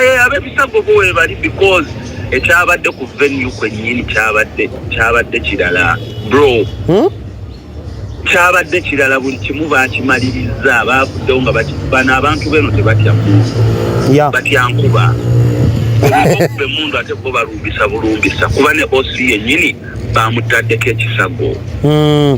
Eh, abebisago bo webali because ekyabadde ku venue kwenyini kyabadde kyabadde kirala bro hmm? kyabadde kirala buli kimu bakimaliriza bavuddewo nga bano abantu beno tebatya mundu batya nkuba emundu ate bo balumbisa bulumbisa kuba ne osi yenyini bamutaddeko ekisago hmm.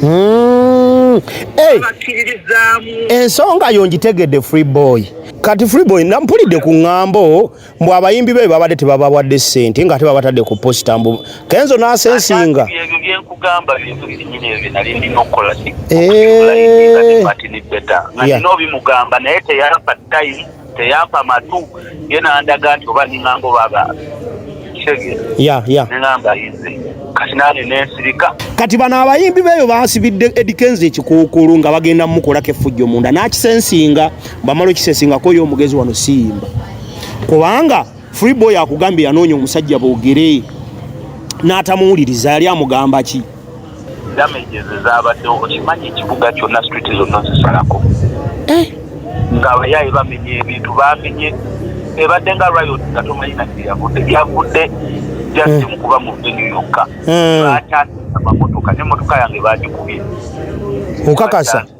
Hmm. Hey. Ensonga yo ngitegedde free boy kati free boy nampulidde ku ŋŋambo mbu abayimbi be babadde tebabawadde ssente nga ate babatadde ku posita mbu kenzo n'asensinga teyampa matu ye nandaga nti oba ningamba obaba nengamba yize kati nane nensirika kati bano abayimbi beeyo basibidde edikenzi ekikuukulu nga bagenda mumukolako effujjo munda nakisensinga bamala okisensingako yo omugezi wano siyimba kubanga freeboy akugambye yanoonya omusajja boogere n'atamuwuliriza yali amugamba ki damages ezabaddewo okimanyi ekibuga kyonna street zonna zisalako eh? ng'abayaaye bamenye ebintu bamenye ebadde nga riot nga tomanyi nati yavudde yavudde just hmm. mukuba mu venue yokka hmm. bakyasisa mamotoka nemotoka yange bagikubye okakasa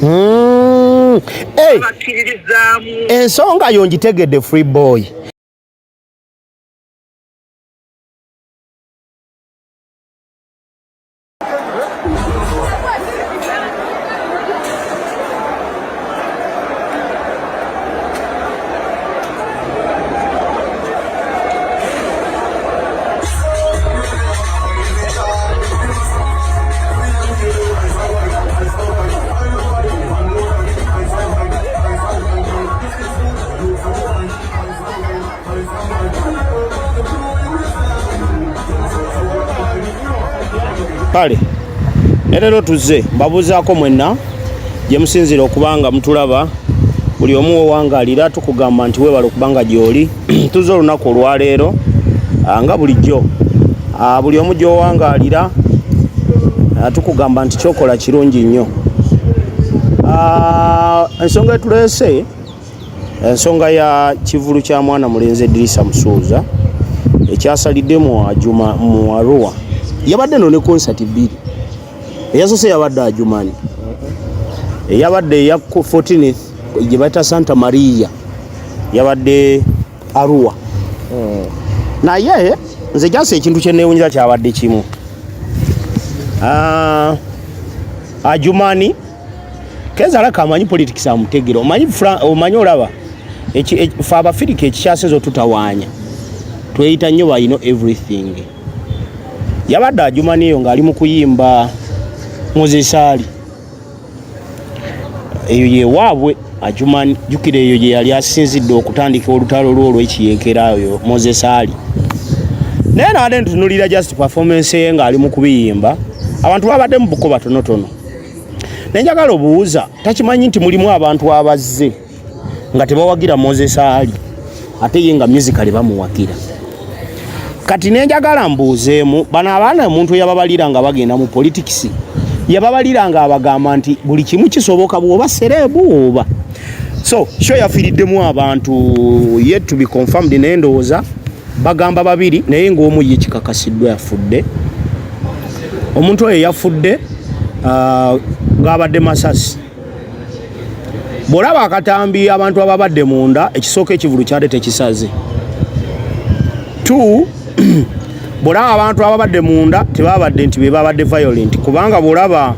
Hmm. Hey. Ensonga yo ngitegedde free boy. kale ne leero tuzze mbabuuzaako mwenna gye musinziira okuba nga mutulaba buli omu wewangalira tukugamba nti webala okuba nga gyoli tuze olunaku olwaleero ah, nga bulijjo ah, buli omu gyowangalira ah, tukugamba nti kyokola kirungi nnyo ensonga etuleese ensonga ya kivulu kya mwana mulenzi edirisa musuuza ekyasalidde mu ajuma mu aruwa yabadde no ne konsati bbiri eyasose yabadde ajumani eyabadde eya 14 gye bayita santa maria yabadde arua hmm. naye nze jasi ekintu kyenewunyira kyabadde kimu ah, ajumani kezala kamanyi politics amutegera omanyi omanyi olaba fe abafirika ekikyasinza otutawanya tweyita nnyo bayino everything yabadde ajumana eyo ng'ali mu kuyimba muzesaali eyo yewaabwe ajumani jukira eyo gye yali asinzidde okutandika olutalo lwo olw'ekiyeekera oyo mozesaali naye naade ntunulira just performance ye ng'ali mu kubiyimba abantu babadde mu buko batonotono nenjagala obuwuza takimanyi nti mulimu abantu abazze nga tebawagira moses ali ate ye nga musicale bamuwagira kati nenjagala mbuuzeemu bano abaana omuntu yababalira nga bagenda mu politikisi yababalira nga abagamba nti buli kimu kisoboka bwoba sereebu oba so sho yafiiriddemu abantu yet to be confirmed naye ndowooza bagamba babiri naye ngaomu ye kikakasiddwa yafudde omuntu oyo yafudde uh, ng'abadde masasi bwolaba akatambi abantu ababadde munda ekisooka ekivulu kyade tekisaze t bwolaba abantu ababadde munda tebabadde nti bebabadde violent kubanga bwolaba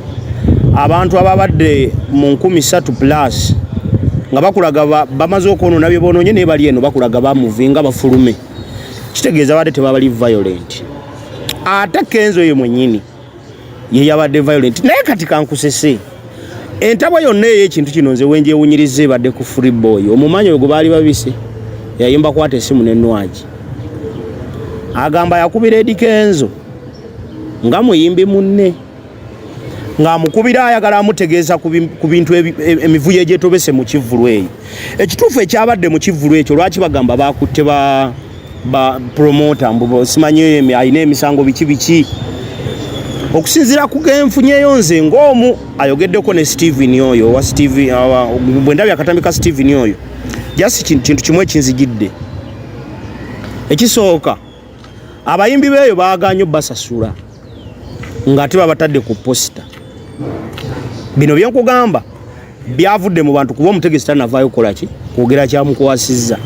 abantu ababadde mu nkumi satu plus nga bakulaga bamaze okwonona byebononye naye bali eno bakulaga bamuvinga bafulume kitegeeza badde tebabali violent ate kenzo ye mwenyini yeyabadde violent naye kati kankusese entabwa yonna ey'ekintu kino nze wenjewunyiriza ebadde ku free boy omumanyi oyo gwe baali babise yayimba kwata esimu nenwagi agamba yakubira edikenzo nga muyimbi munne ng'amukubira ayagala amutegeeza ku bintu e, emivuyo egyetobese mu kivvulu eyo ekituufu ekyabadde mu kivvulu ekyo lwaki bagamba baakutte ba ba promoter mbu simanyi oyo alina emisango biki biki okusinzira ku genfunyeyo nze ng'omu ayogeddeko ne steven oyo owa steven bwe ndabye akatambi ka steven oyo just kintu kimu ekinzijidde ekisooka abayimbi beeyo baagaanyo basasula ng'ate babatadde ku posita bino byenkugamba byavudde mu bantu kuba omutegesi tanavaayo kukola ki kwogera kyamukwasizza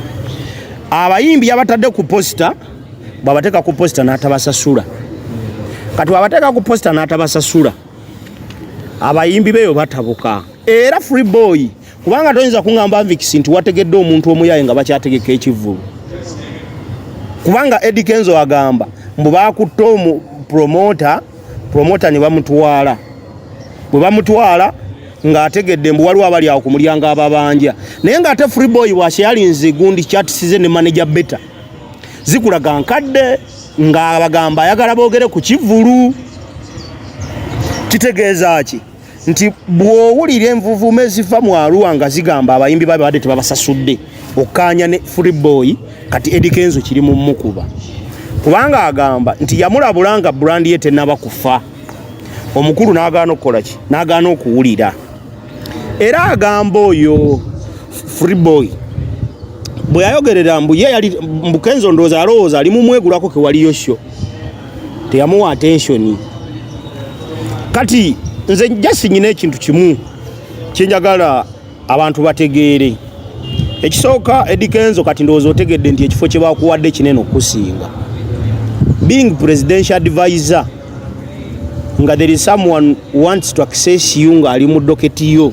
abayimbi yabatadde ku posita bwabateeka ku posita n'atabasasula kati bwabateeka ku posita n'atabasasula abayimbi beeyo batabuka era free boy kubanga toyinza kuŋamba nvikisi nti wategedde omuntu omuyaye nga bakyategeka ekivvulu kubanga edi kenzo agamba mbu bakutte omu promota promota ne bamutwala bwe bamutwala ng'ategedde mbu waliwo abali awo ku mulyango ababanja naye ng'ate free boy washeyalinze gundi chatisize ne manager beta zikulaga nkadde ng'abagamba ayagala boogere ku kivvulu kitegeeza ki nti bw'owulira envuvuuma eziva mu aruwa nga zigamba abayimbi babe badde tebabasasudde okkaanya ne free boy kati edi kenzo kiri mu mukuba kubanga agamba nti yamulabula nga brandi ye tenaba kufa omukulu n'agaana okukola ki n'agaana okuwulira era agamba oyo free boy bwe yayogerera mbu ye yali mbukenzo ndowooza alowooza ali mumwegulako kewaliyo syo teyamuwa attention kati nze just nyina ekintu kimu kyenjagala abantu bategeere ekisooka edikenzo kati ndowooza otegedde nti ekifo kye bakuwadde kinene okusinga being presidential advisor nga there is someone wants to access you ng'ali mu doketi yo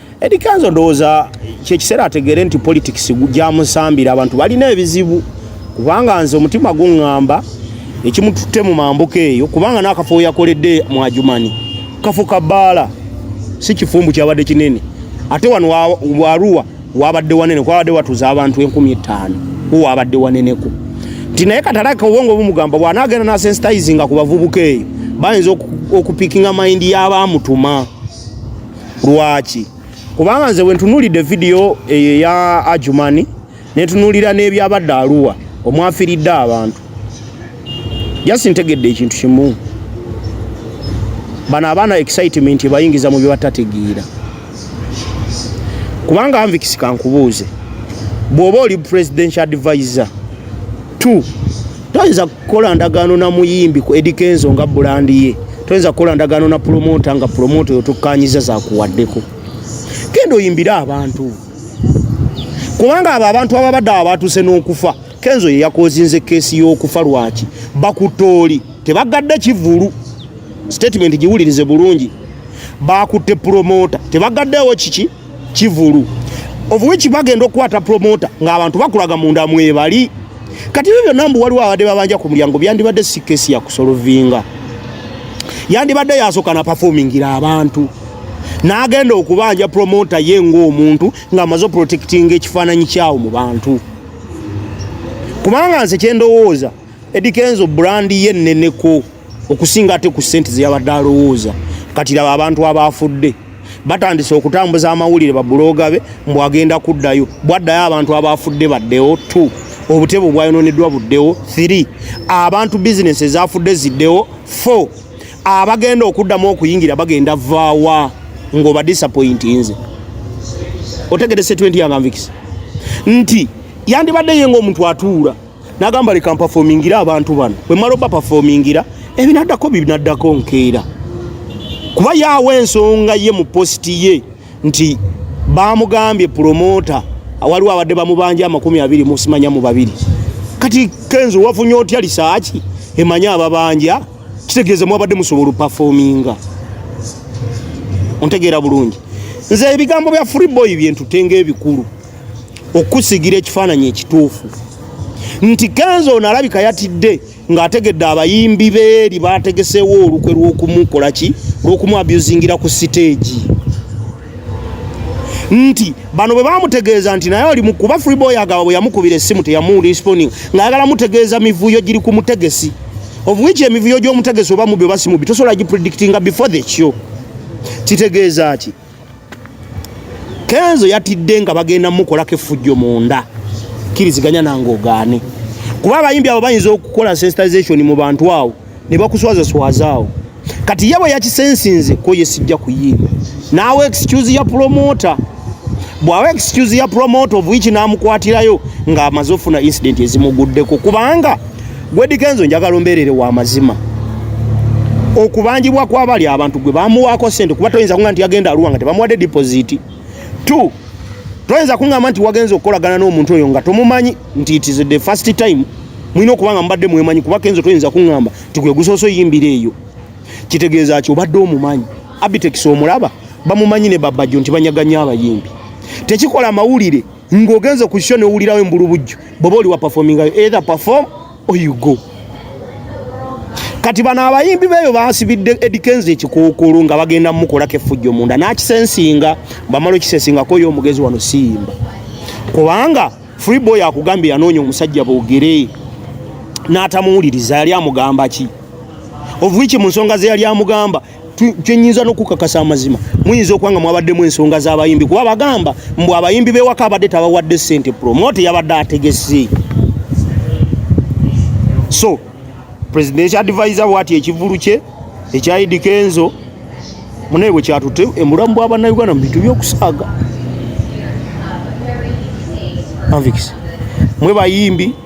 Eddie Kenzo ndowooza kyekiseera ategeere nti politics gyamusambira abantu balina ebizibu kubanga nze omutima guŋŋamba ekimututte mu mambuka eyo kubanga n'akafo we yakoledde mu ajumani kafo ka bbaala si kifumbu kyabadde kinene ate wano waruwa wabadde wanene kwabadde watuuza abantu enkumi ettaano ku wabadde waneneko nti naye katalaka obwongo bumugamba bw'anaagenda n'asensitayizinga ku bavubuka eyo bayinza okupikinga mayindi y'abaamutuma lwaki kubanga nze wentunulidde vidiyo eyo eya ajumani netunulira n'ebyabadde aluwa omwafiridde abantu jasi ntegedde ekintu kimu bano abaana excitement ebayingiza mu byebatategeera kubanga anvikisikankubuuze bw'oba oli presidential advisor two toyinza kukola ndagaano na muyimbi ku Eddy Kenzo nga bulandi ye toyinza kukola ndagaano na pulomota nga pulomota oyo tukkanyiza zakuwaddeko kendo oyimbire abantu kubanga abo abantu ababadde abatuuse n'okufa kenzo ye yakozinze keesi y'okufa lwaki bakutooli tebagadde kivulu sitatimenti giwulirize bulungi bakutte pulomota tebagaddeewo kiki kivulu ovuweki bagenda okukwata promota ng'abantu bakulaga munda mwebali kati ebyo byonna mbu waliwo abadde babanja ku mulyango byandibadde si kesi yakusolovinga yandibadde yasooka na pafomingira abantu n'agenda okubanja promota ye ng'omuntu ng'amaze oprotectinga ekifaananyi kyawo mu bantu kubanga nze kyendowooza edikenzo brandi ye nneneko okusinga ate ku sente zeyabadde alowooza kati laba abantu abaafudde batandise okutambuza amawulire babuloga be mbu agenda kuddayo bwaddayo abantu abaafudde baddewo t obutebe obwayononeddwa buddewo th abantu bizinesi ezafudde ziddewo f abagenda okuddamu okuyingira bagenda vaawa ngaoba disappointi nze otegedese 20 yanganvikisi nti yandibadde ye ngaomuntu atuula nagamba leka mpafomingira abantu bano bwe mala obapafomingira ebinaddako binaddako nkeera kuba yaawo ensonga ye mu positi ye nti bamugambye pulomota waliwo abadde bamubanja amakumi abiri musimanya mu babiri kati kenzo wafunye otya lisaaki emanyi ababanja kitegeeza mwabadde musobola opafominga ontegeera bulungi nze ebigambo bya freeboy byentutenga ebikulu okusigira ekifaananyi ekituufu nti kenzo ono alabika yatidde ng'ategedde abayimbi beeri baategeseewo olukwe lw'okumukola ki lw'okumuabusingira ku siteegi nti bano bwe bamutegeeza nti naye oli mukuba freeboy agaba bwe yamukubira essimu teyamulisponing ng'ayagala mutegeeza mivuyo giri ku mutegesi of which emivuyo gy'omutegesi oba mubyo basimubi tosobola gipredictinga before the kyo kitegeeza ki kenzo yatidde nga bagenda mukolako effujjo munda kiriziganya nange ogaane kuba abayimbi abo bayinza okukola sensitization mu bantu awo ne bakuswazaswaza awo kati ye bwe yakisensinze ko ye sijja kuyimba naawe excuse ya promota bw'awa excuse ya promota ovuiki n'amukwatirayo ng'amaze ofuna incident ezimuguddeko kubanga Gwedi Kenzo njagala ombeerere wa mazima okubanjibwa kwabali abantu gwe bamuwaako sente kuba toyinza kuŋa nti yagenda aluwa nga tebamuwadde dipoziti t toyinza kuŋamba nti wagenza okukolagana n'omuntu oyo nga tomumanyi nti it is the first time mulina okuba nga mubadde mwemanyi kuba kenzo toyinza kuŋamba nti gwe gusoosa oyimbira eyo kitegeeza ki obadde omumanyi abitekisi omulaba bamumanyi ne babajjo nti banyaganya abayimbi tekikola mawulire ng'ogenze ku kisho newulirawo embulubujju bwoba oli wa performingayo either perform or you go kati bano abayimbi beeyo basibidde edikenzi ekikookolo nga bagenda mukolako effujjo munda nakisensinga bamala okisensingako yo omugezi wano siyimba kubanga free boy akugambye yanoonya omusajja boogere n'atamuwuliriza yali amugamba ki ovuiki mu nsonga ze yali amugamba kyenyinza nokukakasa amazima muyinza okuba nga mwabaddemu ensonga z'abayimbi kuba bagamba mbu abayimbi bewaka abadde tabawadde sente promote yabadde ategese so presidential advisor bwati ekivulu kye ekyayidi kenzo munaye bwe kyatute emulamu bwabanauganda mu bintu byokusaaga mwe bayimbi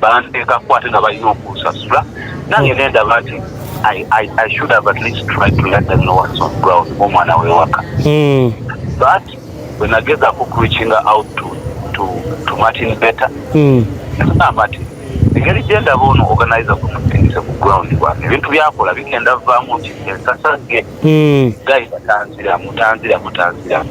banteekako ate nga balina okunsasula nange nendaba nti omwana wewaka hmm. but wenageza ku reaching out to, to, to martin better hmm. nagamba nti engeri gyendaba ono organize kumusindise ku ground bwange ebintu byakola bigenda vaamu nti ensasa ge hmm. gayi batanziramu tanziramu tanziramu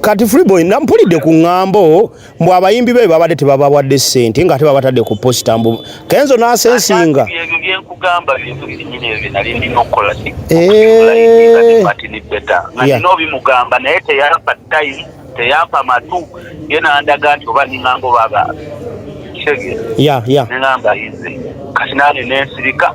Kati Freeboy nampulidde ku ngambo mbu abayimbi be babadde tebabawadde ssente ng'ate babatadde ku posita mbu kenzo n'asensinga nobimugamba eh. naye teyampa time teyampa matu ye nandaga nti oba ningamba oba ba ya ya nengamba yize kati nane nensirika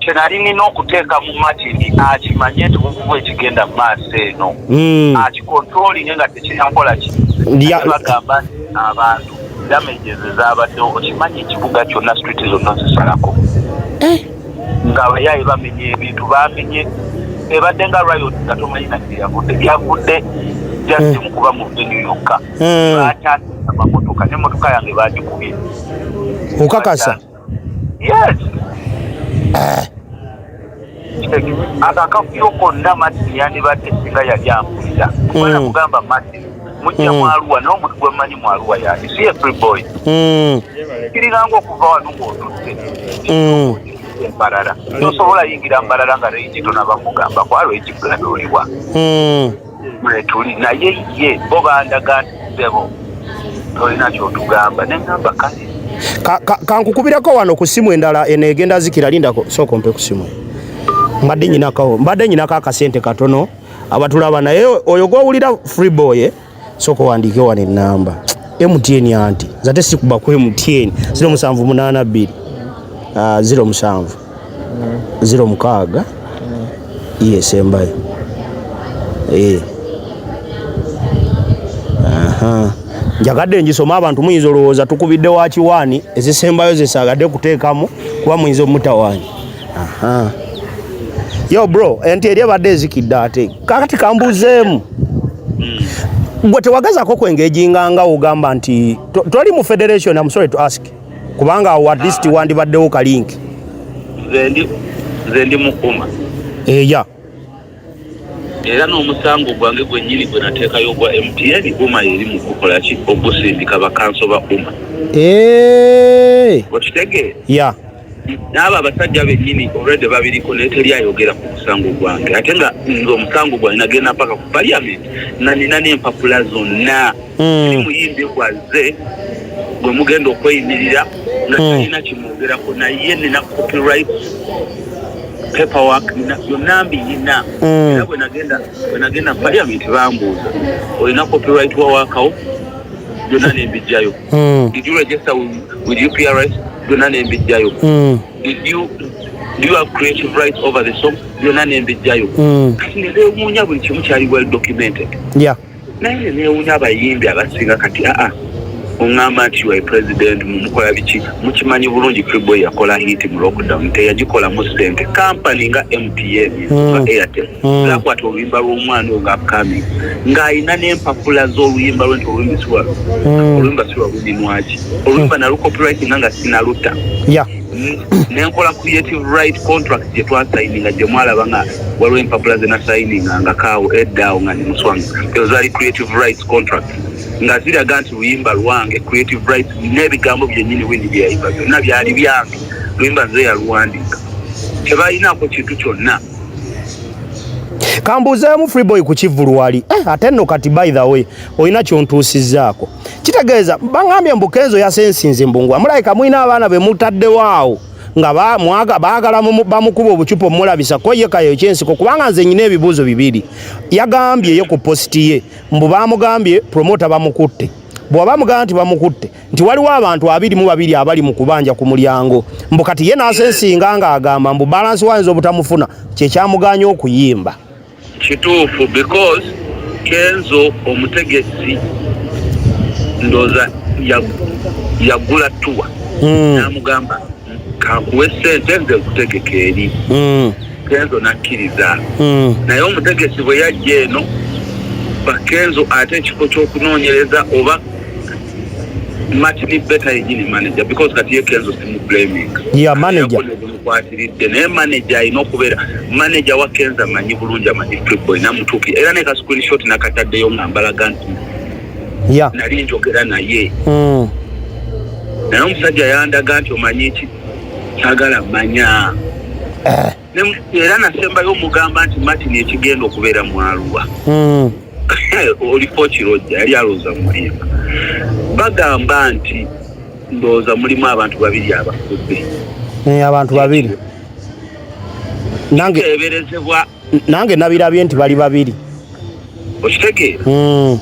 kyenali nina okuteeka mu matini akimanye nti bukuba ekigenda mu maaso eno hmm. akikontrolinge nga tekinakola kibagamba abantu damages ezabaddewo okimanyi ekibuga kyonna street zonna zisalako eh. nga abayaye bamenye ebintu bamenye ebadde nga riot nga tomanyi nati yavudde yavudde just hmm. mukuba mu venue yokka hmm. bakyasa amamotoka nemotoka yange bagikubye okakasa Yes. Ako akavuyo konna Martin yandibadde singa yali ampulira. Kubala mm. kugamba Martin mujja mm. mwaluwa naye omuntu gwe mmanyi mwaluwa yani si ye free boy. Mm. Kiringanga okuva wano ng'otutte. Mbarara. Tosobola yingira Mbarara nga reyiti tonaba kugamba kwalo ekigula n'oliwa. mwetuli naye ye bo bandaga nti ssebo tolina kyotugamba nengamba kale kankukubirako wano ku simu endala eno egenda zikira lindako sooka ompe ku simu mbadde nyinakawo mbadde nyinako akasente katono abatulaba naye oyo gwowulira free boy eh? sooka owandiike wano enamba mtn anti zate sikuba ku mtn ziro musanvu munaana bbiri ah, ziro musanvu ziro mukaaga iye esembayo eh. njagadde ngisome abantu muyinza olowooza tukubidde wa kiwaani ezisembayo zesaagadde kuteekamu kuba muyinza omutawaanya yo bro enti eri ebadde ezikidde ate kakati kambuzeemu hmm. gwe tewagazako kwengejinga nga ogamba nti toli mu federation am sorry to ask kubanga awo at least wandibaddewo ka link nze ndi mukuma eya era n'omusango gwange gwennyini gwe nateekayo ogwa mtn uma eri mu kukola ki ogusindika bakanso ba uma okitegeera ya n'abo abasajja bennyini olwedde babiriko naye teri ayogera ku musango gwange ate nga nze omusango gwange nagenda mpaka ku paliamenti nanina n'empapula zonna hmm. muyimbi gwazze gwe mugenda okweyimirira nga hmm. talina kimwogerako naye nina copyright paperwork yonna mbiyina mm. era bwenagenda bwenagenda parliament bambuuza olina copyright wawakawo byonna nembijjayo mm. did you register with uprs byonna nembijjayo mm. did you do you have creative rights over the song byonna nembijjayo kati nebewuunya buli kimu kyali well documented yeah naye newunya abayimbi abasinga kati aa oŋamba nti ua president mumukola biki mukimanyi bulungi freeboy yakola hit mu lockdown teyagikolamu sente kampany nga mtn hmm. nga airtel hmm. zakwata oluyimba lw'omwana oyo nga upcoming ng'alina n'empapula z'oluyimba lwe nti oluyimba siwa hmm. oluyimba siwa lunyinwaki oluyimba nalu copyright nga nga sinaluta nenkola creative right contract gye twasayininga gye mwalaba nga waliwo empapula ze nasayininga nga kaawo eddaawo nga ndi muswanga ezo zaali creative rights contract nga ziraga nti luyimba lwange creative rights n'ebigambo byennyini windi bye yayimba byonna byali byange luyimba nze yaluwandiika tebalinaako kintu kyonna kambuuzeemu freeboy ku kivulu wali eh, ate nno kati by the way olina kyontuusizzaako kitegeeza bangambye mbu kenzo yasensinze mbungu amulayika mulina abaana be mutaddewo awo nga baagala bamukuba obucupa omulabisa ko ye kayo kyensiko kubanga nze nyina ebibuuzo bibiri yagambye ye ku positi ye mbu baamugambye promota bamukutte bwaba mugamba nti bamukutte nti waliwo abantu abiri mu babiri abali mu kubanja ku mulyango mbu kati ye nasensinga ng'agamba mbu balansi wayinza obutamufuna kyekyamuganya okuyimba kituufu because kenzo omutegesi ndoza yagula tuwa hmm. namugamba kakuwe sente nze nkutegeka eri hmm. kenzo nakkiriza hmm. naye omutegesi bwe yajja eno bakenzo ate ekifo kyokunoonyereza oba matini beta yenyini manager because kati ye kenzo simublaming yeah manager kwatiridde naye manager alina okubeera manager wa kenza amanyi bulungi amanyi tripboy namutuuki era ne ka screenshot nakataddeyo nga mbalaga nti yeah. nali njogera naye mm. naye omusajja yandaga nti omanyi ki sagala manya eh. era nasembayo omugamba nti martin ekigenda okubeera mwaluwa mm. oliko kirojja yali alooza mulimba bagamba nti ndowooza mulimu abantu babiri abafudde eh, abantu babiri nange eberezebwa nange nabirabye nti bali babiri okitegeera hmm.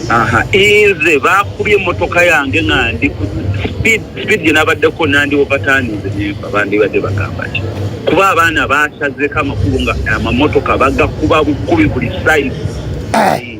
aha inze bakubye emotoka yange nga ndi speed speed gye nabaddeko nandi ovatanize nemba bandibadde bagamba ki kuba abaana basazeko amakulu nga amamotoka bagakuba bukubi buli size eh.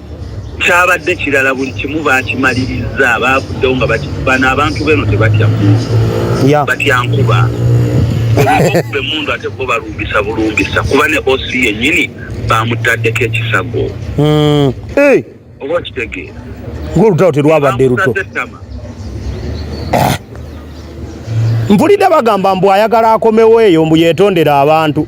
kyabadde kirala buli kimu baakimalirizza baavuddewo nga bano abantu beno tebatya mundu batya nkuba be mundu ate bo balumbisa bulumbisa kuba ne osi yennyini bamutaddeko ekisago hmm. oba okitegeera ngaolutalo terwabadde luto mpulidde bagamba mbu ayagala akomewo eyo mbu yetondera abantu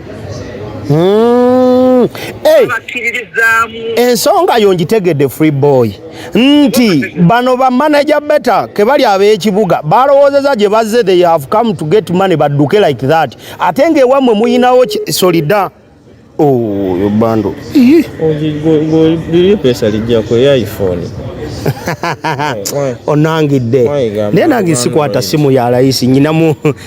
Hmm. Hey. Ensonga yo ngitegedde free boy nti bano ba manager beta ke bali ab'ekibuga balowoozeza gye bazze they have come to get money badduke like that ate ng'ewammwe muyinawo solida oyo oh, bando pesa lijjako eya iphone onangidde naye nange sikwata simu ya layisi nyinamu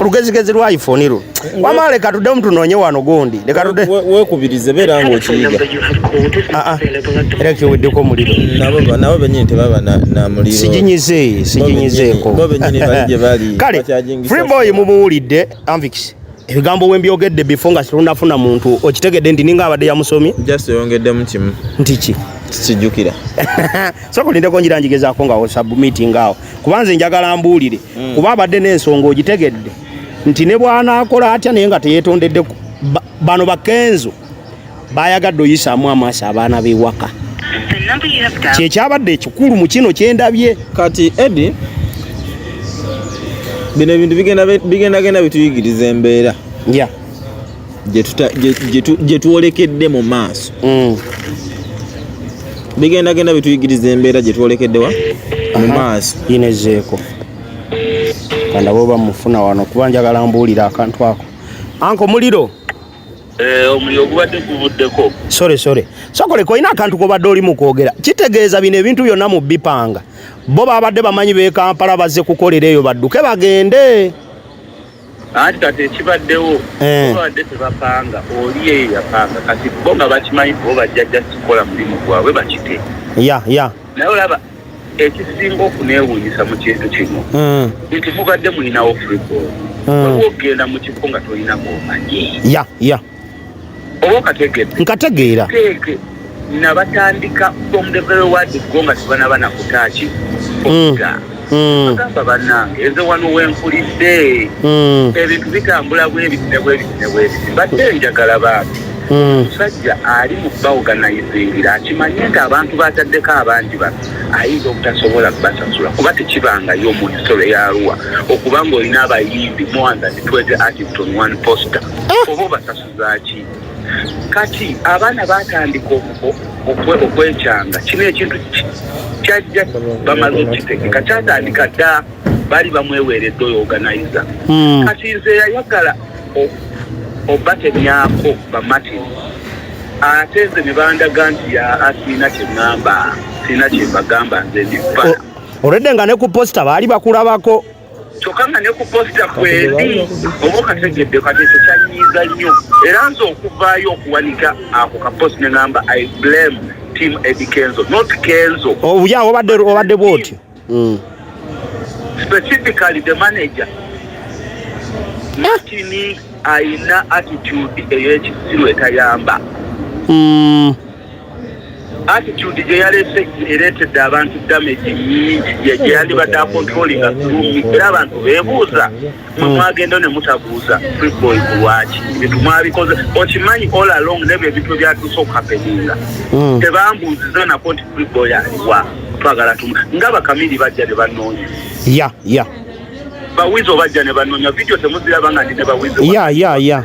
olugezigezi lwa iphone lu wama leka tuddemu tunoonye wano gundi leka tudde wekubirize beera nga okiyiga aa ah, ah. era kiweddeko omuliro nabo benyini tebaba na muliro siginyize siginyizeeko kale freeboy mumuwulidde anvikisi ebigambo we mbyogedde bifo nga situnafuna muntu okitegedde nti ninga abadde yamusomi just oyongeddemu kimu nti ki kijukira soka olindeko njira njigezaako nga osubmitinga awo kuba nze njagala mbuulire mm. kuba abadde n'ensonga ogitegedde nti ne bw'anaakola atya naye nga teyeetondedde bano bakenzo bayagadde oyisaamu amaaso abaana b'ewaka kyekyabadde ekikulu mu kino kyendabye kati edi bino ebintu bigendagenda bituyigiriza embeera gye twolekedde mu maaso mm. bigenda genda bituyigiriza embeera gye twolekeddewa mu maaso yinezeeko kandaba oba mufuna wano kuba njagala mbuulira akantu ako anko muliro eh, omuliro ogubadde guvuddeko sore sore sokoleka olina akantu kobadde oli mukwogera kitegeeza bino ebintu byonna mu bipanga bo babadde bamanyi bekampala bazze kukolera eyo badduke bagende anti kati ekibaddewo eh. babadde tebapanga oli eyo yapanga kati bo nga bakimanyi bo bajja just kukola mulimu gwabwe bakite ya ya naye olaba ekisinga okunewunyisa mu kintu kino hmm. nti mubadde mulinawo freeball hmm. waliwo okugenda mu kifo nga tolinamu omanyi ya ya nkategeera nabatandika from the very word go nga sibanaba nakutaaki hmm. hmm. agamba banange eze wano wenkulidde hmm. ebintu bitambula bwebitine bwebitine bwebiti badde njagala bantu omusajja ali mu baoganizingira akimanye nti abantu bataddeko abangi bano ayinza obutasobola kubasasula kuba tekibangayo mu hisole yaruwa okuba nga olina abayimbi mwanza nitweze artist on one poster eh. oba obasasuzaki kati abaana batandika okwekyanga kino ekintu kyajja bamaze okitegeka kyatandika dda bali bamweweredde oyo oganiza hmm. kati nze yayagala obatemyako bamatini ate nze ne bandaga nti ya asiina kye ŋŋamba siina kye mbagamba nze ndifa olwedde nga ne ku posita baali bakulabako kyokka nga ne ku posita kwendi oba okategedde kati ekyo kyanyiiza nnyo era nze okuvaayo okuwanika ako ka post ne ngamba i blame team edi kenzo not kenzo obuya oh, obadde obadde bwotyo mm. specifically the manager matini ayina attitude ey'ekisiru etayamba mm. attitude gye yaleese ereetedde abantu damage nyingi gye yandibadde akontrolinga tulumi era abantu beebuuza mwe hmm. mwagenda ne mutabuuza freeboy ku lwaki ebintu mwabikoze okimanyi all along nebyo ebintu ebyatuuse okukapeninga hmm. tebambuuziza nako nti freeboy aliwa twagala tumu nga bakamiri bajja ne banoonya ya ya bawizo bajja ne banoonya vidiyo temuziraba nga ndi ne bawizo ya ya ya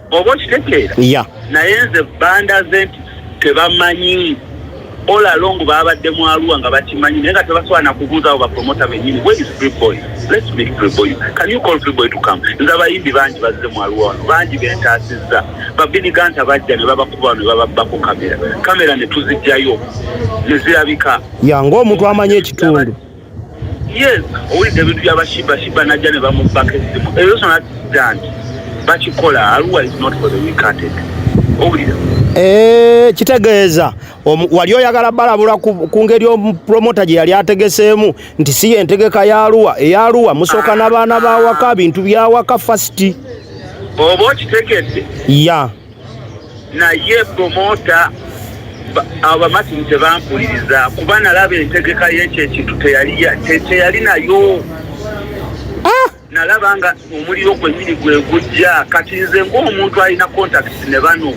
oba okitegeera yeah. naye nze banda ze nti tebamanyi olalongo babadde mu aluwa nga bakimanyi naye nga tebasobola nakubuuzawo bapromota benyini wesfreeboy lets make freeboy can you call freeboy to come nze abayimbi bangi bazze mu aluwa wano bangi bentaasizza babiniganta bajja ne babakuba wano ne bababbako kamera kamera ne tuzijjayo ne zirabika ya ngaomuntu amanyi ekitundu yes owulidde ebintu byabashibashiba najja ne bamubbako essimu ebyo sona danti bakikola aluwa is not for the weekatd owulira Eh, kitegeeza wali oyagala balabula ku ngeri promota gye yali ategeseemu nti si yentegeka yaluwa eyaluwa musooka n'abaana bawaka bintu byawaka fasiti oba okitegedde ya naye promoota abo bamatini tebampuliriza kuba nalaba entegeka yekyo ekintu teyali nayo ah! nalaba nga omuliro gwenyini gwegujja kati nze ngaomuntu alina contact ne bano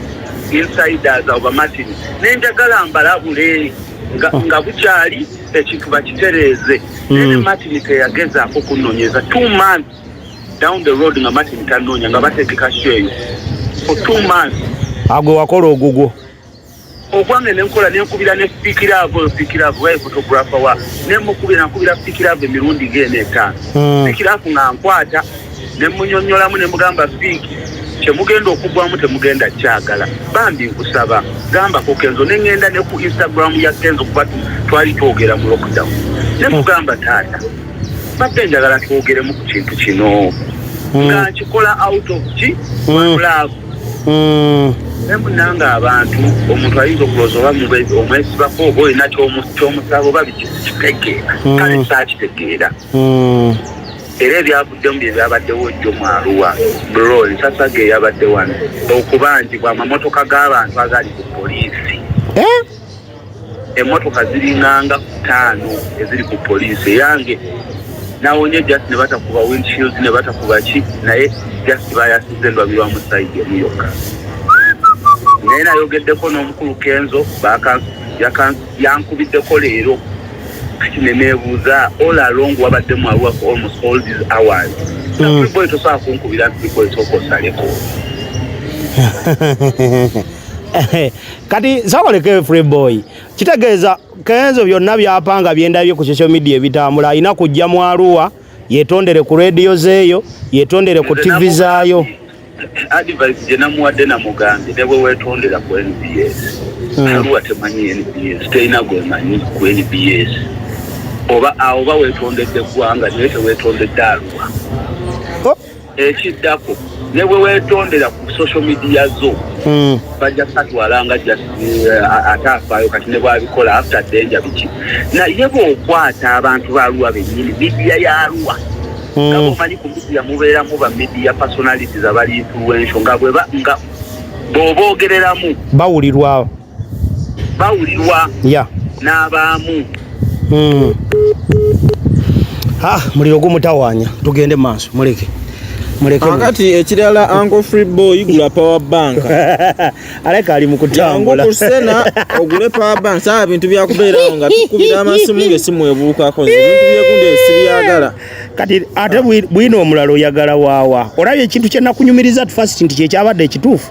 insiders abo bamatini nenjagala mbalabule nga oh. bukyali ekintu bakitereeze hmm. nene matini teyagezaako kunonyeza two months down the road nga Martin tanonya nga bategeka sheyo for two months agwe wakola ogugwo ogwange nenkola nenkubira ne fikiravo fikiravo waye photographer wa nemukubira nkubira fikiravo emirundi gene etaano hmm. fikiravo nga nkwata nemunyonyolamu nemugamba fiki kyemugenda okugwamu temugenda kyagala bambi nkusaba gamba ku kenzo nengenda ne ku instagram ya kenzo kuba twali twogera mu lockdown nemugamba taata mbadde njagala twogeremu ku kintu kino hmm. nga nkikola out of ki hmm. love hmm. naye munanga abantu omuntu ayinza okulooza oba omwesibako oba olina kyomusaba oba bikitegeera kale saakitegeera era ebyavuddemu bye byabaddewo jjo mwaluwa bro ensasage eyabadde wano okubanjibwa amamotoka g'abantu agali ku poliisi eh? emotoka ziringanga kutaano eziri ku poliisi eyange nawonye just ne batakuba windshield ne batakuba ki naye just bayasize ndwabirwamu sayidi emu yokka naye nayogeddeko n'omukulu kenzo yankubiddeko leero kati neneebuuza all along wabadde mwaluwa for almost all these hours nakuliboy mm. tosobola kunkubira nti liboy sooka osaleko kati zabaleke free boy kitegeeza kenzo byonna byapanga byendabye ku social media ebitambula alina kujja mu aruwa yetondere ku radio zeeyo yetondere ku tv zaayo advice gye namuwadde namugambye ne bwe weetondera ku nbs hmm. aluwa temanyi nbs terina gwemanyi ku nbs oba awo oba weetondedde eggwanga naye teweetondedde aluwa oh. ekiddako ne bwe weetondera ku social media zo hmm. bajja katwala nga eh, ate afaayo kati ne bwabikola after danger biki naye bw'okwata abantu ba luwa bennyini midiya ya luwa hmm. nga bomanyi ku midiya mubeeramu ba midiya personalities abali influential nga bweba nga bw'oboogereramu bawulirwawo bawulirwa n'abaamu hmm. ah, muliro gumutawanya tugende mu maaso muleke kakati ekirala anko free boy gula power bank aleka ali mukutambula kusena ogule power bank saa bintu byakubeerawo nga tukubira amasimu ngesimu ebuukako ebintu byekundi sibyagala kati ate bwino omulala oyagala waawa olabye ekintu kyenakunyumiriza at first nti kyekyabadde ekituufu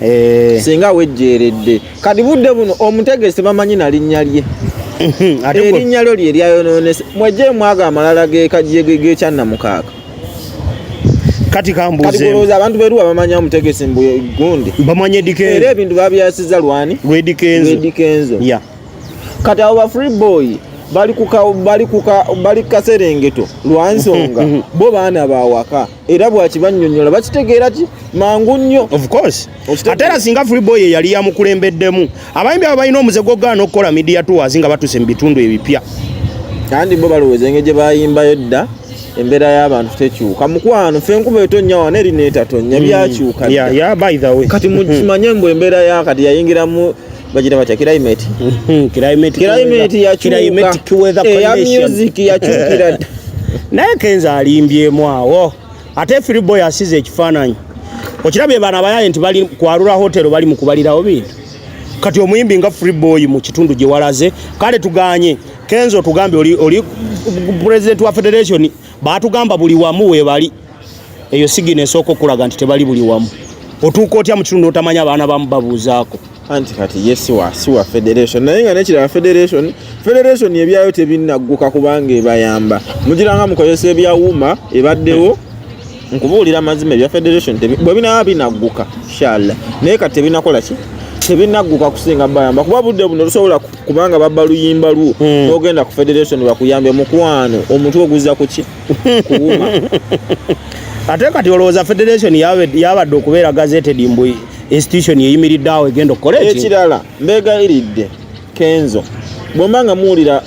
eh. singa wejjeeredde kati budde buno omutegesi bamanyi na linnya lye erinnya lyo lye lyayonoonese mwejje mwaga amalala gekyannamukaaka kati kambuuzeolowooza abantu beruwa bamanya omutegesi mbu gundi bamanya edikenzo era ebintu babyasiza lwani lwedikenzo kati abo ba free boy bali kukaserengeto lwansonga bo baana bawaka era bwakibannyonnyola bakitegeera ki mangu nnyo ate era singa freeboy eyali yamukulembeddemu abayimbi abo balina omuze gwokugaana okukola media tours nga batuuse mu bitundu ebipya kandi bo balowooza enge gye bayimbayo dda embeera y'abantu tekyuka mukwano fe enkuba etonnya wana eri neetatonnya mm. byakyuka kati mukimanye mbu embeera yakati yayingiramu bajira batya climate climate climate ya climate kiweza eh, condition ya music ya chukira naye kenza alimbye mwawo ate free boy asize ekifananyi okirabye bana bayaye nti bali kwarura hotel bali mukubalirawo bintu kati omuyimbi nga free boy mu kitundu gye walaze kale tuganye kenzo tugambe oli oli president wa federation Baatugamba buli wamu weebali, eyo sigina esooka okulaga nti tebali buli wamu. Otuuka otya mu kitundu otamanya abaana bamu babuuzaako? Anti kati ye siwa siwa federation naye nga nekirala federation federation ebyayo tebinnagguka kubanga ebayamba mugiranga mukozesa ebyawuuma ebaddewo nkubuulira amazima ebya federation bwe binaba binagguka inshallah naye kati tebinakola ki tebinagguka kusinga bayamba kuba budde buno lusobola kubanga babba luyimba lwo hmm. ogenda ku federation bakuyambye mukwano omutwe oguzza kuki kuwuma ate kati olowooza federation yabadde okubeera gazeted mbu institution eyimiridde awo egenda okukola ekirala mbegayiridde kenzo bwemba nga muwulira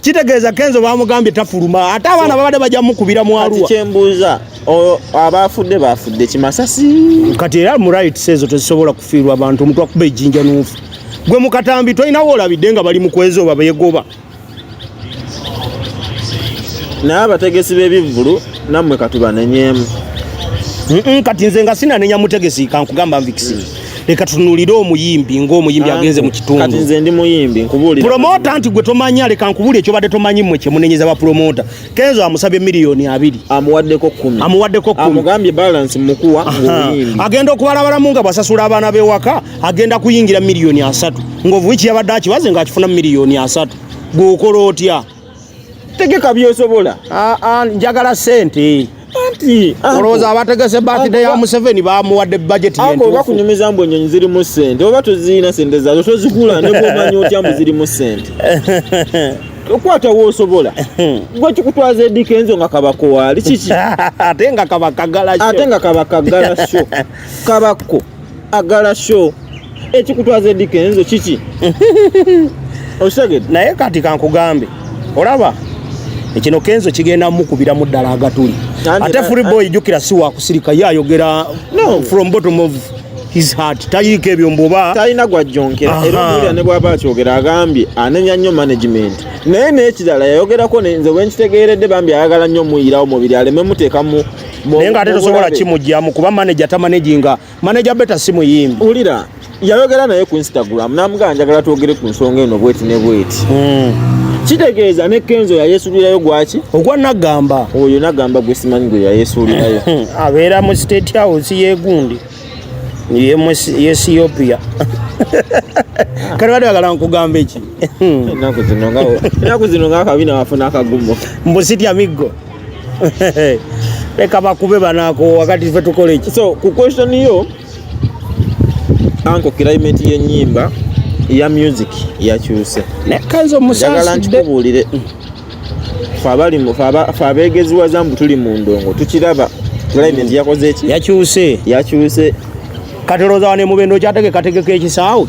kitegeeza kenzo bamugambye tafuluma ate abaana babadde bajja mukubira mu aluwa kyembuuza abaafudde baafudde kimasasi kati era mu rights ezo tezisobola kufiirwa abantu omuntu akuba ejjinja nuufu gwe mukatambi tolinawo olabidde nga bali mukwezi oba beegoba naye abategesi b'ebivvulu nammwe katubanenyemu kati nze nga sinanenya mutegesi kankugamba nvikisi leka tunulire omuyimbi ng'omuyimbi agenze mu kitundu kati nze ndi muyimbi nkubuulira promota nti gwe tomanya leka nkubuulire ekyobadde tomanyi mmwe kye munenyeza ba promota kenzo amusabye miliyoni abiri amuwaddeko kumi amuwaddeko kumi amugambye balance mukuwa ng'omuyimbi agenda okubalabalamu nga bwasasula abaana b'ewaka agenda kuyingira miliyoni asatu ng'ovuiki yabadde akibaze ng'akifuna miliyoni asatu gw'okola otya tegeka byosobola ah, ah, njagala sente anti olowooza abategese batide ya museveni bamuwadde bajeti oba kunyumiza mbu enyonyi zirimu sente oba tozirina sente zazo tozigula nebwomanya otya mbu zirimu sente okwata wosobola gwe kikutwaza edika enzo nga kabako waali kiki ate nga kabakagala ate nga kabakagala sho kabakko agala show ekikutwaza eddi kenzo kiki okitegedde naye kati kankugambe olaba ekino kenzo kigenda mukubira mu ddala agatuli ate free boy jukira si wakusirika ye ayogera from bottom of his heart tayiriko ebyo mbuba talina gwajjonkera era omuwulira ne bwaba akyogera agambye anenya nnyo management naye n'ekirala yayogerako nze wenkitegeeredde bambi ayagala nnyo omuyirawo mubiri aleme muteekamu naye nga ate tosobola kimugyamu kuba manaja tamanaginga Manager Beta si muyimbi. Ulira yayogera naye ku Instagram namugamba njagala twogere ku nsonga eno bweti ne bweti. Mm. Kitegeeza ne Kenzo ya Yesu lirayo gwaki? Ogwa nagamba. Oyo nagamba gwe simanyi gwe ya Yesu lirayo. Abeera mu state house ye gundi. Ye mu Ethiopia. Kale wali wagala nkugamba eki? Naku zino nga naku zino nga kabina wafuna akagumo. Mbusitya miggo. leka bakube banako wakati fe tukola eki so ku question yo anko climate y'ennyimba ya music yakyuse nekanza omusajja nkubuulire fe abali fe abeegeziwaza mbu tuli mu ndongo tukiraba climate yakoze eki yakyuse yakyuse katoloza wane mubendo kyateke kategeka ekisaawe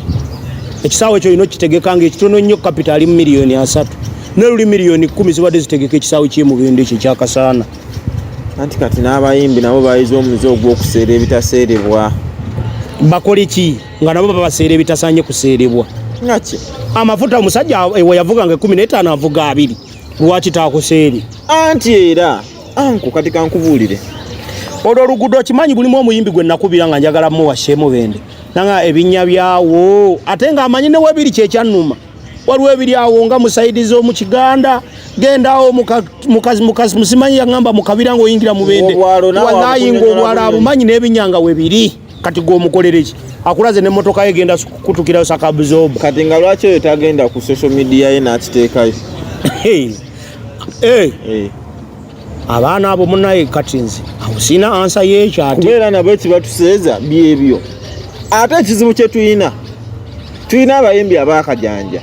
ekisaawe ekyo olina okitegeka nga ekitono nnyo kapita ali mu miliyoni asatu naye luli miliyoni kumi zibadde zitegeka ekisaawe kyemubendo ekyo ekyakasaana anti kati n'abayimbi nabo bayiza omuze ogw'okuseera ebitaseerebwa bakole ki nga nabo baba baseera ebitasaanye kuseerebwa ngaki amafuta omusajja ewe yavuganga ekumi n'etaano avuga abiri lwaki taakuseeri anti era anku kati kankubuulire olwo oluguudo okimanyi bulimu omuyimbi gwe nakubira nga njagala muwa sheemu bende nanga ebinnya byawo ate nga amanyi ne webiri kyekyannuma waliwo ebiri awo nga musaidi z'omu kiganda gendawo mukazi mukazi musimanyi yaŋamba mukabira ngaoyingira mu bende walayinga obwala abumanyi n'ebinyanga webiri kati gwomukolereki akulaze ne motoka ye genda kutukirayo sakabuzoba kati nga lwaki oyo tagenda ku social media ye nakiteekayo eh, eh. eh. abaana abo munaye kati nze awusina ansa yekyakubeera nabo ekibatuseeza byebyo ate ekizibu kyetulina tulina abayimbi abakajanja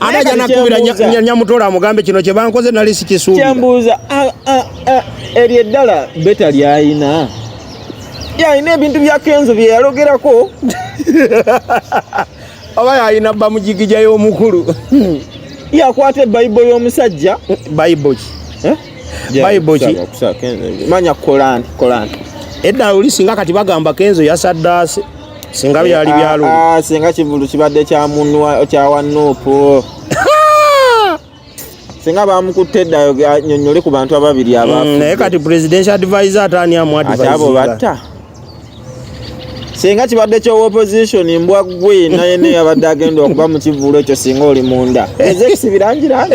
ate ajja nakubira nyamutola amugambe kino kyebankoze nali sikisuubikyembuuza eryo eddala beta lyayina yalina ebintu bya kenzo bye yalogerako oba yalina bamujigija y'omukulu yakwata ebayibo y'omusajja bayibo ki eh? bayibo ki manya kolani kolani edda oli singa kati bagamba kenzo yasaddaase singa byali eh, byalo ah, ah, singa kivulu kibadde kya mundu kya wanupu singa bamukutte edda anyonyole ku bantu ababiri abafu mm, naye kati presidential advisor atani amu advisor abo batta singa kibadde kyowa opposition mbwa gwe naye naye abadde agenda okuba mu kivulu ekyo singa oli munda ezekisibirangira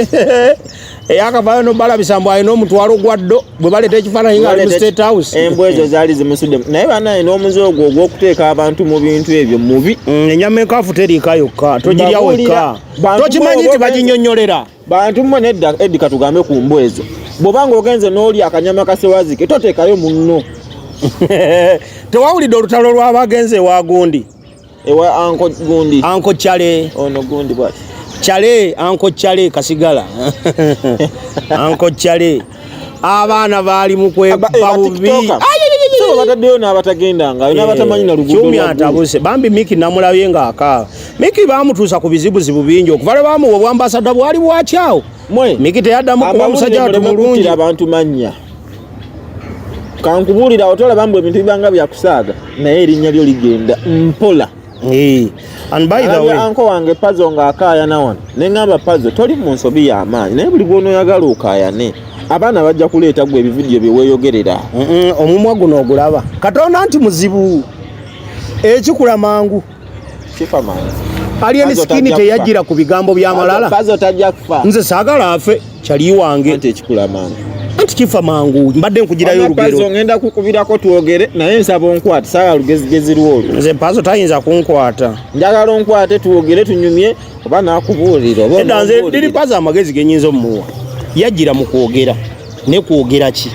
eyakavayo nobalabisa mbu alina omutwalo gwa ddo bwe baleeta ekifaananyi nga ali mu state house embwa ezo zaali zimusuddemu naye banaye n'omuze ogwo ogw'okuteeka abantu mu bintu ebyo mubi mm, enyama enkafu teriika yokka togirya wekka tokimanyi nti baginyonyolera bantu mmwe nedda eddi katugambe ku mbwa ezo bw'oba ng'ogenze n'oli akanyama kasewazike toteekayo munno tewawulidde olutalo lw'abagenze ewa gundi ewa anko gundi anko chale ono gundi bwati chale anko chale kasigala anko chale abaana baali mukwebabubi bataddeyo n'abatagenda nga eh, n'abatamanyi na luguudokyumi atabuse bambi miki namulabye ng'akaaba miki baamutuusa ku bizibuzibu bingi okuva lwe baamuwa obwambasada bwali bwakyawo miki teyaddamu kuba musajja watu mulungi abantu mannya kankubuulira awo tolaba mbu ebintu bibanga byakusaaga naye erinnya lyo ligenda mpola anko wange pazo nga akaayana wano neŋamba pazo toli mu nsobi y'amaanyi naye buli bwonoyagala okaayane abaana bajja kuleeta gwe ebividiyo byeweeyogerera omumwa guno ogulaba katonda nti muzibu ekikula mangu alien skin teyajira ku bigambo bya malala nze sagala afe chali wange ante kikula mangu anti kifa mangu mbadde nkugirayo olugero pazo ngenda kukubirako twogere naye nsaba onkwata sagala lugezigezi lwolwo nze pazo tayinza kunkwata njagala onkwate twogere tunyumye oba nakubuulira oba nze liri pazo amagezi genyinza omuwa yajira mu kwogera ne kwogera ki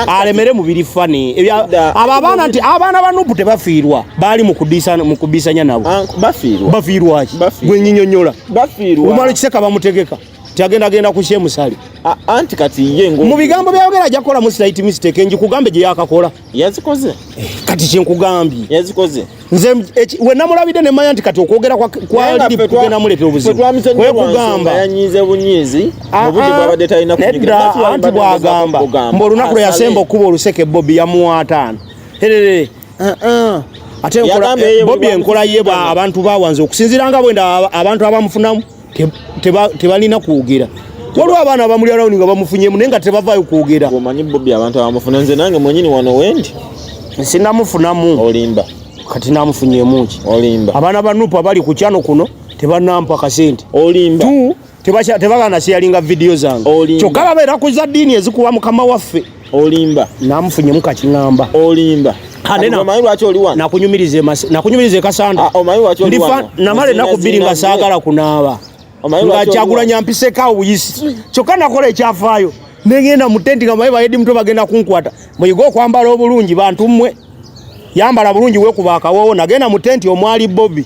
alemere mubiri fani abo abaana nti abaana ba nupu tebafiirwa baali mukubisanya nabo bafiirwaki gwenyinyonyola omala ekiseka bamutegeka tiagenda agenda kusye musale anti kati ye mu bigambo byayogera ajja kukolamu slight mistake nji kugambe gye yakakola yazikoze eh, kati kyenkugambye yazikoze nze eh, we namulabide ne maya nti kati okwogera kwa kwa ndi kugenda mulete obuzibu kwe kugamba yanyize bunyizi ah, obudde ah. bwabadde talina kunyigirira anti bwagamba mbo lunaku yasemba okuba oluseke bobi yamuwatana herere uh ah, -uh. ate bobi enkola ye abantu bawanze okusinzira nga bwenda abantu abamufunamu tebalina kwogera waliwo abaana abamuli arawundi nga bamufunyemu naye nga tebavaayo kwogera omanyi bobi abantu abamufuna nze nange mwenyini wano wendi sinamufunamu olimba kati namufunyemuki olimba abaana ba nupu abali ku kyano kuno tebanampa kasente olimba tebagana siyalinga vidiyo zange kyokka babeera ku za ddiini ezikuwa mukama waffe olimba namufunyemu kakingamba olimba omanyi lwaki oli wano nakunyumirize nakunyumirize kasanda ah, omanyi lwaki oli wano namale nakubiri nga sagala kunaaba nga kyagulanya mpiseko awo buyisi kyokka nakola ekyafaayo nengenda mu tenti nga maye bayedi mutwe bagenda kunkwata muyige okwambala obulungi bantu mmwe yambala bulungi wekuba akawowo nagenda mu tenti omwali bobi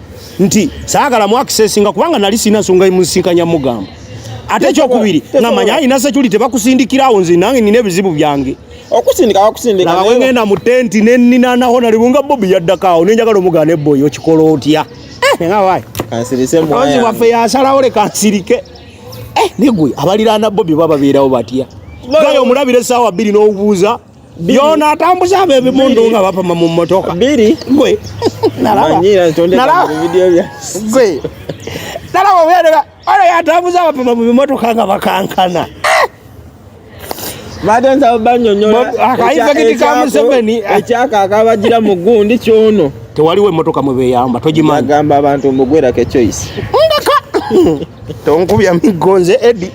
nti saagala mu akisesinga kubanga nali sirina nsonga emunsinkanya mugamba ate ekyokubiri namanya alina sekyuli tebakusindikirawo nze nange nina ebizibu byange okusindikaokusindikawegenda mu tenti neninanaho nalibunga bobi yaddakaawo nenjagala omugana eboyi okikola otya eh, kanzi waffe yasalawo leka nsirike eh, negwe abaliraana bobi bababeerawo batya gaye omulabira esaawa bbiri n'obuuza byona atambuza abe bimundu nga bapama mu motoka biri gwe nalaba nalaba video bya gwe nalaba wera ora yatambuza bapama mu motoka nga bakankana badenza banyonyola akaiza kiti ka museveni ekyaka akabagira mu gundi kyono tewaliwo emotoka mwe beyamba togimanyi agamba abantu mbugwera ke choice ndaka tonkubya migonze edi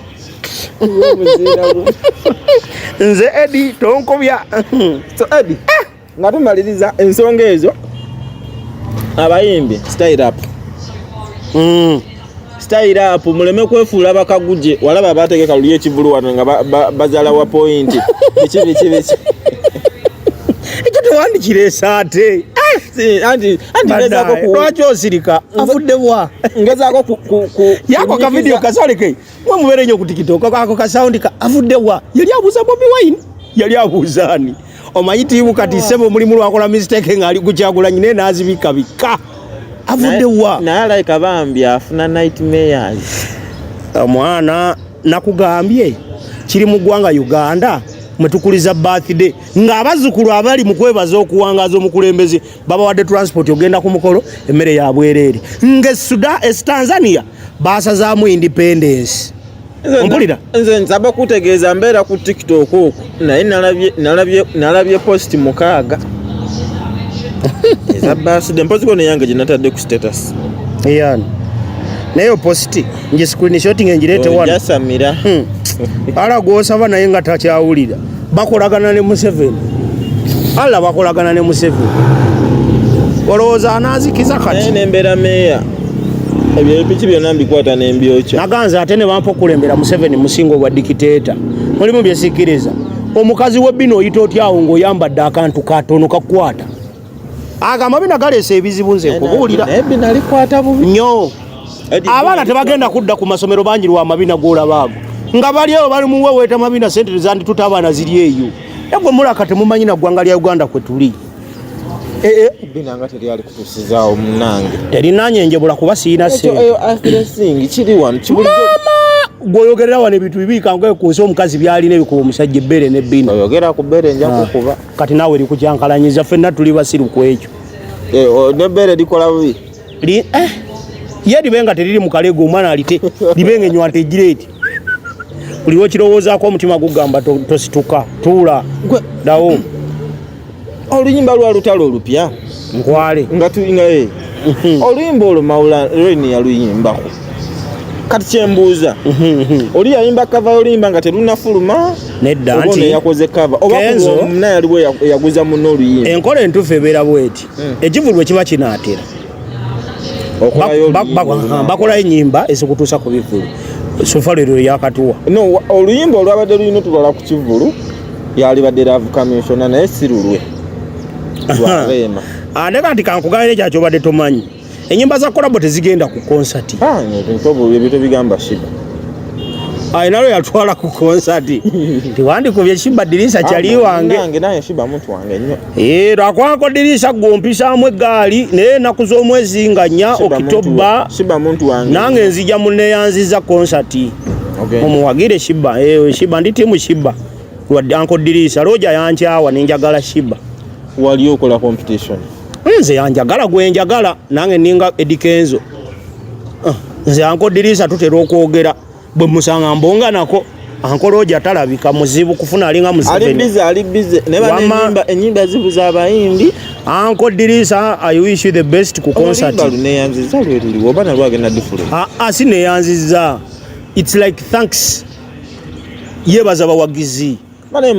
nze edi tonkobya so edi ah! nga tumaliriza ensonga ezo abayimbi style up mm. style up muleme kwefuula bakaguje walaba abategeka luli ekivulu wano nga bazala wa pointi biki biki biki ekyo tewandikira esaate lwaki osirika avuddewa ngezako yako kavidiyo kasoleke mwe mubeere nyo kutikitoko ako kasawundi ka avuddewa yali abuuza bobi wine yali abuuza ani omanyi tiimu kati sebo omulimu lwakola mistake ngaali kukyagulanyi naye nazibika bika avuddewa naye alaika bambi afuna nightmares omwana nakugambye kiri mu ggwanga uganda mwetukuliza birthday ng'abazzukulu abali mu kwebaza okuwangaaza omukulembeze babawadde transport ogenda ku mukolo emmere ya bwereere ng'esuda es tanzania baasazaamu independence ompulira nze nsaba kutegeeza mbeera ku tiktok okwo naye nalabye post mukaaga eza baaside mpozi kono eyange gye natadde ku status eyani naye opositi nje screenshot ngirete wano jasamira hmm. ala gwosaba naye nga takyawulira bakolagana ne Museveni ala bakolagana ne Museveni olowooza anaazikiza kati nembeera meeya ebyo ebipiki byonna mbikwata nembyokya naganza ate ne bampa okulembera Museveni musinga obwa dikiteeta mulimu byesikiriza omukazi we bino oyita otyawo ng'oyambadde akantu katono kakwata agamba bino galeesa ebizibu nze nkubuulira nyo abaana tebagenda kudda ku masomero bangi lwa mabina golabaago nga bali eyo bali muweweeta mabina sente tezandituta abaana ziri eyo egwe mulaka temumanyi na ggwanga lya uganda kwe tuli eh, eh. terinanye njebula kuba siina gwoyogerera wano ebintu bibiikanga ku nsi omukazi byalina ebikuba omusajja ebbere nebbina kati naawe likujankalanyiza fenna tuli basiru ku ekyo eh, nebeere likola bubi eh, ye libe nga teriri mukalego omwana alite libe nga enywa ntegira eti buliwo kirowoozaako omutima gugamba tosituka tuula dawo oluyimba lwa lutalo olupya nkwale nga tulina ye mhm. oluyimba olwo mawula reni yaluyimbako kati kyembuuza mhm, mhm. oli yayimba kava oluyimba nga terunafuluma nedda nti yakoze kava obamunna yaliwo eyaguza munna oluyimba enkola entuufu ebeera bweti hmm. ekivulu bwe kiba kinaatera bakolayo enyimba ezikutuusa ku bivulu sofa lero yakatuwa oluyimba olwabadde lulina otulwala ku kivulu yalibadde laavu kaminsona naye si lulwe andeka nti kankugambire ekya kyobadde tomanyi enyimba za kolabo tezigenda ku konsati ah, alina lwe yatwala ku konsati tiwandikubye shiba dirisa ah, kyali wange eh, lwakwako dirisa gwompisaamu eggaali naye enaku z'omwezi nga nnya okitoba nange nzija muneyanziza konsati omuwagire shiba eh, shiba ndi timu shiba Wadde anko Diriisa Roja yankyawa ne njagala Shiba. Wali okola competition? Nze yanjagala gwe njagala nange ninga Eddy Kenzo. Ah, nze anko Diriisa tutera okwogera bwe musanga mbonga nako anko Roja talabika muzibu kufuna alinga muzibu. Ali bize ali bize ne ba enyimba enyimba zibu za bayimbi. Anko Diriisa I wish you the best ku concert. Olimba ne yanziza lwe luli obana lwagenda different. Ah, ah sine yanziza. It's like thanks. yebaza bawagizi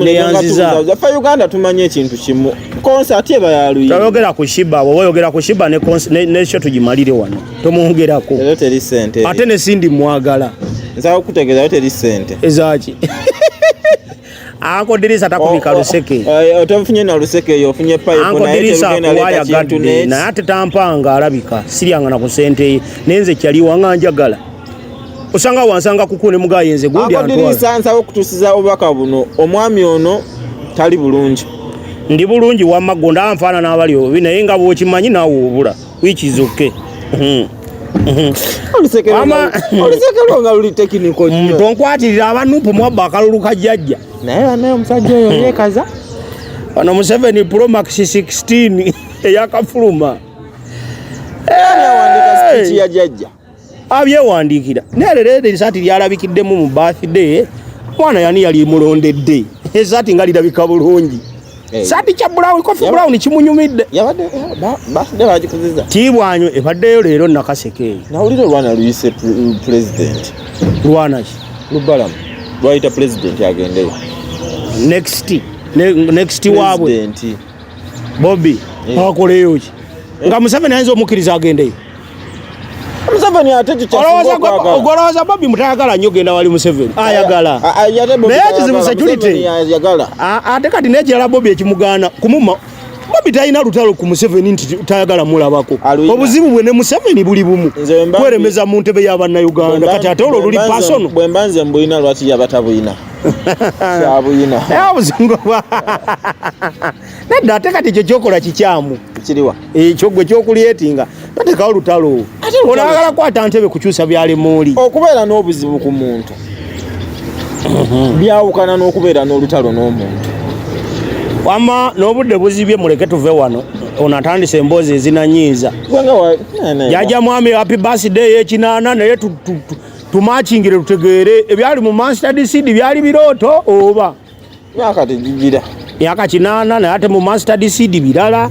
neyanzizafe uganda tumanye ekintu kimu konsati eba yaluyoyogera ku shiba woba oyogera ku shiba nekyo tugimalire wano tomwongerako ate nesindi mwagala nsakutegezayo teri sente ezaki Anko Dirisa takubika oh, oh, luseke. Oh, eh, otafunye na luseke yo ofunye pipe Anko na Dirisa kuwaya gadde na ate tampanga alabika siryanga na kusente nenze kyali wanga njagala. Osanga wansanga kukune mugaye nze gundi antwa. Anko Dirisa nsawo kutusiza obaka buno omwami ono tali bulungi. Ndi bulungi wamma gonda anfaana n'abali obi naye nga bw'okimanyi naawe obula. which is okay hmm. hmm. olusekelo nga luli tekiniko hmm, tonkwatirira abanupu mwabba akalulu ka jjajja naye banaye omusajja oyo yekaza ono museveni promax 16 eyakafuluma yajajja abyewandiikira naye leero eri esaati lyalabikiddemu mu birthday mwana yani yali mulondedde esaati nga lirabika bulungi eh. saati kya brown kofi brown kimunyumidde tiibwanyo ebaddeyo leero nakaseke eyo nawulira olwana luyise pulezidenti lwanaki lubalamu lwayita pulezidenti agendeyo next next waabwe Bobby eh. akoleyo ki eh. nga Museveni ayinza omukkiriza agendeyo Museveni ate kikyaogolowooza Bobby mutayagala nnyo genda wali Museveni ayagala naye ekizibu security ate kati nekirala Bobby ekimugaana kumuma Bobby talina lutalo ku Museveni nti tayagala mulabako obuzibu bwe ne Museveni buli bumu kweremeza mu ntebe ya bannayuganda kati ate olwo luli pasono bwemba nze mbulina lwaki yabatabulina kyabuyina naye obuzungu bwa nedda ate kati ekyo kyokola kikyamu kiriwa ekyo gwe kyokulyetinga tatekawo lutalo onagala kwata ntebe kukyusa byali muuli okubeera n'obuzibu ku muntu mhm. byawukana n'okubeera n'olutalo n'omuntu wama n'obudde buzibye muleke tuve wano ono atandise emboozi ezinanyiiza jaja mwami happy birthday yekinaana naye tumakingire tutegeere ebyali mu master decide byali birooto oba myaka tegigira myaka kinaana naye ate mu master decide birala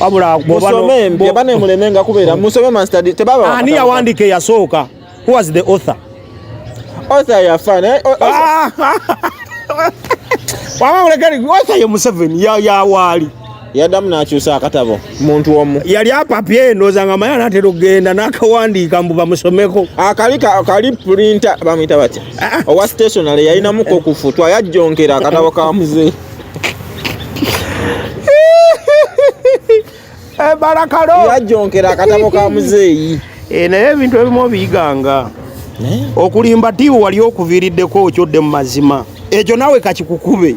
wabula musome mpya bane muleme nga kubeera musome master decide tebaba ani yawandiika eyasooka who was the author author yafa naye wama mulekani author ye museveni yawaali ya yadamu nakyusa akatabo muntu omu yali apapye ndoza nga maya natera okugenda nakawandiika mbu bamusomeko akali ah, kali pulinta bamuyita batya ah, ah. owa stationary yalinamuko okufutwa yajjonkera akatabo ka muzee eh, barakalo yajjonkera akatabo ka muzeeyi eh, naye ebintu ebimu obiyiganga okulimba tiiwe wali okuviriddeko okyodde mu mazima ekyo nawe kakikukube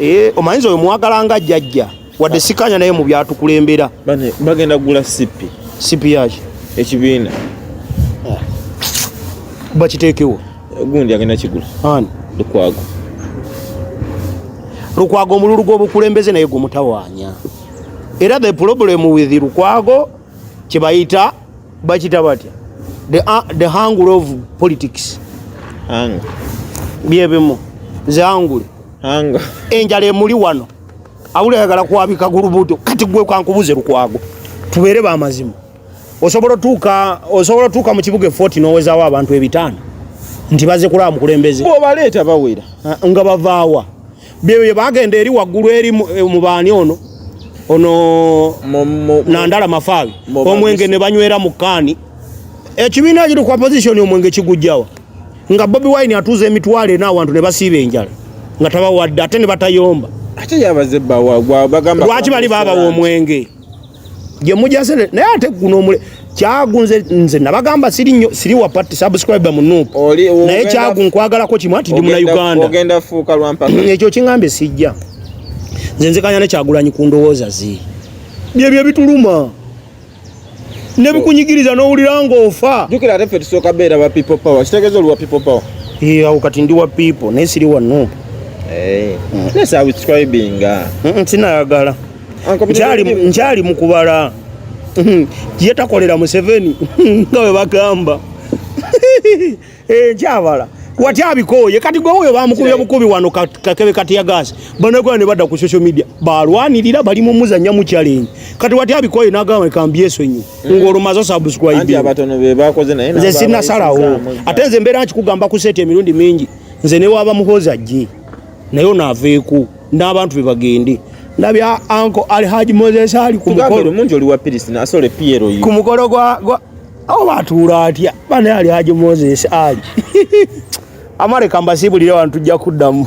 Eh, omanyiza oyo mwagala nga jajja wadde sikanya naye mu byatukulembera bagenda kugula sipi sipi yaki ekibiina ah. bakiteekewo gundi agenda kigula ani lukwago lukwago omululu gw'obukulembeze naye gumutawanya era the problem with lukwago kyebayita bakita batya the, uh, the angle of politics angle byebimu nze angule angle enjala emuli wano abuli ayagala kwabika gulubuto kati gwe kankubuze lukwago tubeere bamazima osobola otuuka osobola otuuka mu kibuga efoti n'owezawo abantu ebitaano nti baze kulaba mukulembeze obaleeta bawera ah, nga bavaawa bye bagenda eri waggulu eri eh, mu baani ono ono nandala mafaabi omwenge ne banywera mu kaani ekibiina kiri ku opposition omwenge kigujjawa nga bobi wine atuuza emitwalo ena awantu ne basiiba enjala nga tabawadde ate ne batayomba lwaki bali babawa omwenge gye mujase naye ate guno omule kyagu nze nze nabagamba siri nyo siri wa party subscribe mu nup naye kyagu nkwagalako kimu ati ndi mu Uganda ogenda fuuka lwa mpaka mm, ekyo kingambe sijja nze nze kanya ne kyagulanyi ku ndowooza zi bye bye bituluma ne bikunyigiriza no ulira ngofa jukira ate fe tusoka bera ba people power kitegezo lwa people power yeah ukati ndi wa people ne siri wa nup eh hey. mm. ne subscribing ah mm, mm, sinayagala nkyali mukubala hmm. ye takolera museveni nga we bagamba eh, nkyabala wati abikooye kati gwe oyo bamukubye bukubi wano kakebe kati ya gasi banagwa ne bada ku social media balwanirira bali mu muzanya mu challenge kati wati abikooye nagamba kambi yeso nyo mm. ngoro mazo subscribe anti abatono be bakoze naye nze sinasalawo ate nze mbera nkikugamba ku sete emirundi mingi nze ne waba muhoza jii naye ono aveeko n'abantu be bagende ndabya anko ali haji moses ali ku mukolo mungi oli wa pirisi nasole piero yi ku mukolo gwa gwa awo batuula atya bane ali haji moses ali amareka mbasibulire abantu tujja kuddamu